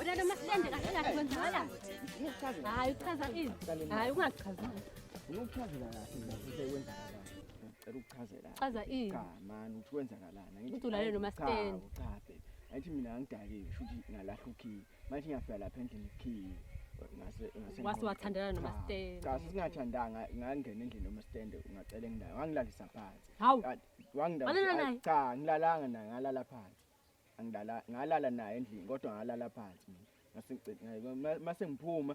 Udada masihlende kahle kahle kwenzakala. Hayi uchaza ini? Hayi ungachazi. Unokuchazela kahle ngizwe kwenzakala. Ngicela ukuchazela. Chaza ini? Cha man uthi kwenzakalana. Uthi ulalele nomastendi. Cha cha baby. Ayithi mina angidakiwe shuthi ngalahla ukhiye. Manje ngiyafika lapha endlini ikhiye. Ngase ngase Wase wathandana noma stand. Kasi singathandanga ngangena endlini noma stand ungacela engilayo. Wangilalisa phansi. Hawu. Wangilala. Cha, ngilalanga naye ngalala phansi. Angilala ngalala naye endlini kodwa ngalala phansi mina. Mase ngiphuma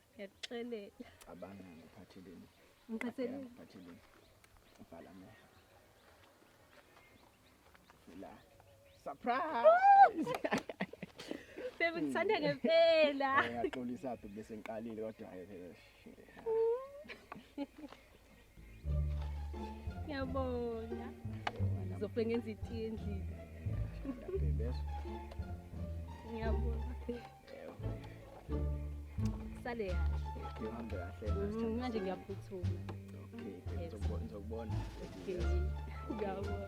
ngiyakuxelela cabanga ngiphatheleni ngiphatheleni ngiphatheleni ubhala amehlo la surprise Baby ngithanda ngempela. Ngiyaxolisa bese ngiqalile kodwa hayi phela. Ngiyabonga. Ngizofike ngenze itiye endlini. Ngiyabonga. Sale kahle. Ngihambe kahle. Mm, Manje ngiyaphuthuma. Okay, Yes. ngizokubona. ngizokubona. Okay. Ngiyabonga.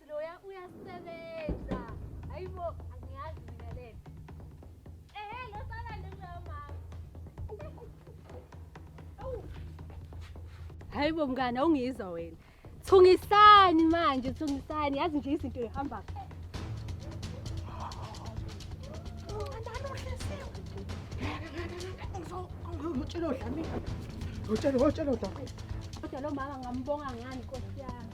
Loya uyasebenza. Hayibo angiyazi mina lento. Ehe lo sala njengoya mama. Hayibo mngane awungizwa wena. Thungisani manje thungisani yazi nje izinto zihamba kahle. Ngitshela udlami. Ngitshela ngitshela udlami. Kodwa lo mama ngambonga ngani Nkosi yami.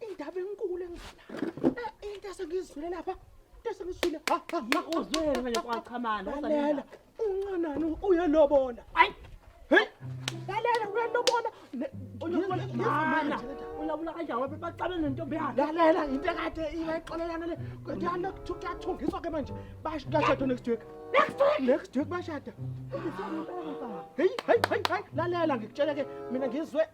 indaba enkulu engizala eh, into esengizwile lapha into esengizwile uzwele manje kwachamana lalela uncanani uyalobola ayi lalela uyalobola ulawula kanjani wabe baxabe nentombi yakhe lalela into ekade ibayixolelana le kodwana kuyathungiswa ke manje bashada next week next week next week bashada heyi heyi heyi heyi lalela ngikutshele ke mina ngizwe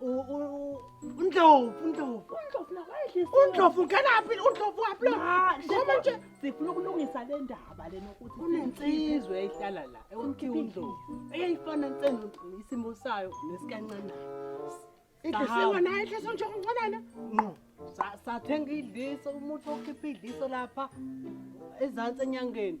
undlovu undlovu undlovu nakwayidlisa undlovu ngenaphi undlovu waphi lo ngoba nje sifuna ukulungisa le ndaba lena ukuthi kunensizwe ehlala la ewuthi undlovu eyayifana nsendo isimo sayo nesikancane idlisiwe nayo idliso nje oncanana no sathenga idliso umuntu okhipha idliso lapha ezantsi enyangeni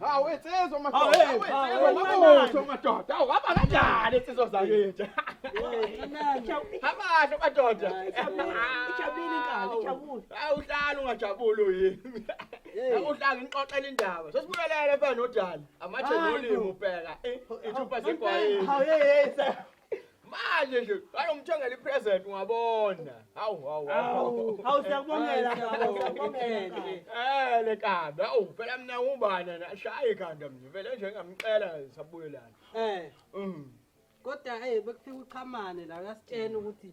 Hawu insizwa madoda. Hawu insizwa madoda madoda. Hawu hamba kanjani insizwa zakwethu. Abahle madoda. Ijabulile inkani, ijabule. Hawu uhlala ungajabuli yini. Hawu uhlala ngixoxela indaba. Sesibuyelele mfana nodala. Amathe nolimo ubheka. Ithupha zegwayi. Hawu hey hey. manje nje bayomthengela ipresent ungabona hawu hawu hawu hawu siyakubongela siyakubongela eh le kanda awu phela mina ubana nashaya ikhanda mnje vele nje ngamcela sabuyelana eh mm kodwa hey bekufika uchamane la uyasitshena ukuthi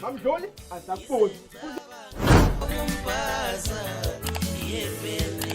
Mamdluli azakuboni. Ukumbaza yebeni.